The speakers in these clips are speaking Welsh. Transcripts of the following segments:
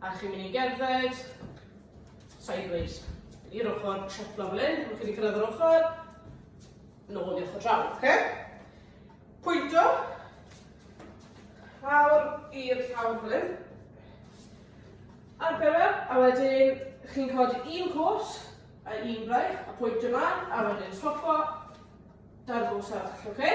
A chi'n mynd i gerdded sideways i'r ochr, treflo fel hyn, rwy'n chi'n cyrraedd yr ochr, nôl i ochr draw, oce? Pwynto, lawr i'r llawr fel hyn, a'r bewer, a wedyn chi'n codi un cwrs a un braich, a pwynt ymlaen, a wedyn stopo, dan gos arall, oce? Okay?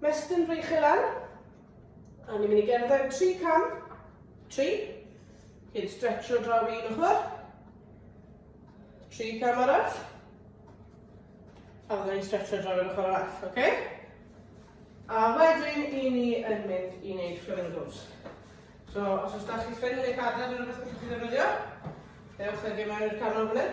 Mestyn Frych Elan. A ni'n mynd i gerdded tri cam. Tri. Cyn stretcho draw un ochr. Tri cam arall. A fydden ni'n stretcho draw un ochr arall, oce? Okay? A wedyn i ni yn mynd i wneud flamingos. So, os oes da chi ffyn neu cadar yn rhywbeth gallwch chi ddefnyddio, ewch ag e mewn i'r canol fan hyn.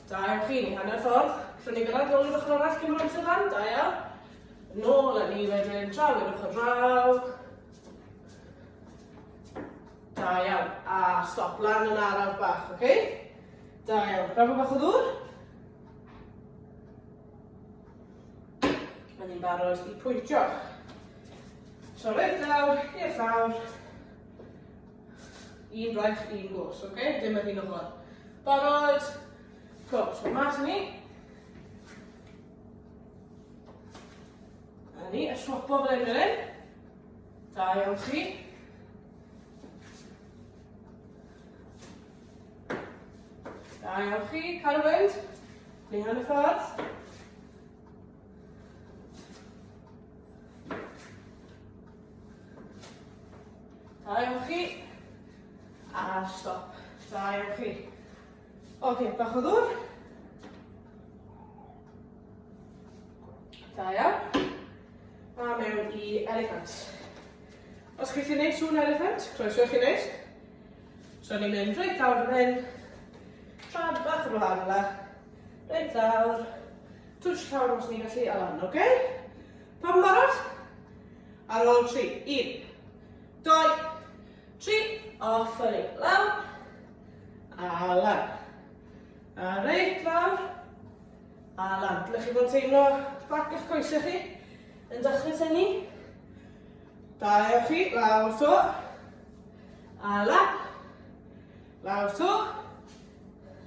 Da iawn chi, ni hanner ffordd. Gallwn ni gyrraedd nôl i'r ochr arall cyn bod amser lan, da iawn. Nôl a ni wedyn, draw i'r ochr draw. Da iawn, a stop lan yn araf bach, oce? Okay? Da iawn, rafo bach o ddŵr. Mae'n ni'n barod i pwyntio. Tro reit lawr, i'r llawr. Un braich, un gwrs, oce? Okay? Dim yr un ochr. Barod? Cool, so mas ni. A ni, a swapo fel hyn fel hyn. Da iawn chi. Da iawn chi, cael y fynd. Ni hanner ffordd. Da iawn chi. A stop. Da iawn chi. Ok, bach o ddwr. Da iawn. A mewn i elephant. Os chi'n gwneud sŵn elephant, croeso chi'n gwneud. So ni'n mynd reit dawr fan hyn. Trad bach yn wahanol. Reit dawr. Twtsh llawr os ni'n gallu a lan, oce? Pam barod? Ar ôl tri, un, doi, tri, off yr ei lawr, a lan. A reit lawr, a lan. Dylech chi fod teimlo bac ych coesau chi yn dechrau tynnu. Da ewch chi, lawr to, a lan. Lawr to.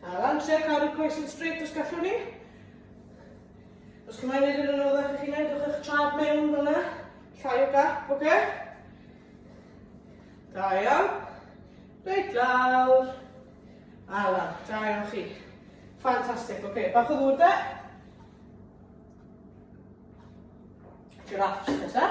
A lan tre cadw coes yn straight os gallwn ni. Os chi'n mynd i'r ôl eich chi'n ei, dwch eich trad mewn fel yna. Llai o gap, oce? Okay? Da iawn. Reit lawr. A lan, da iawn chi. Fantastic, oce. Okay. Bach o ddŵr da. Giraffes nesa.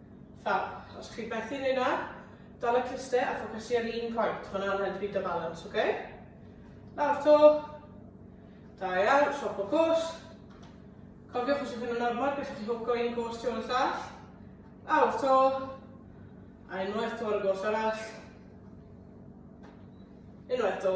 Fab, os chi methu neu na, dal y cluster a ffocysu ar un pwynt. Hwna'n helpu dy balans, oce? Okay? Lawr to. Da iawn, swap o cwrs. Cofiwch os ydych chi'n ormod, beth chi hwco un cwrs tu ôl y llall. Lawr to. A unwaith to ar y gwrs arall. Unwaith to.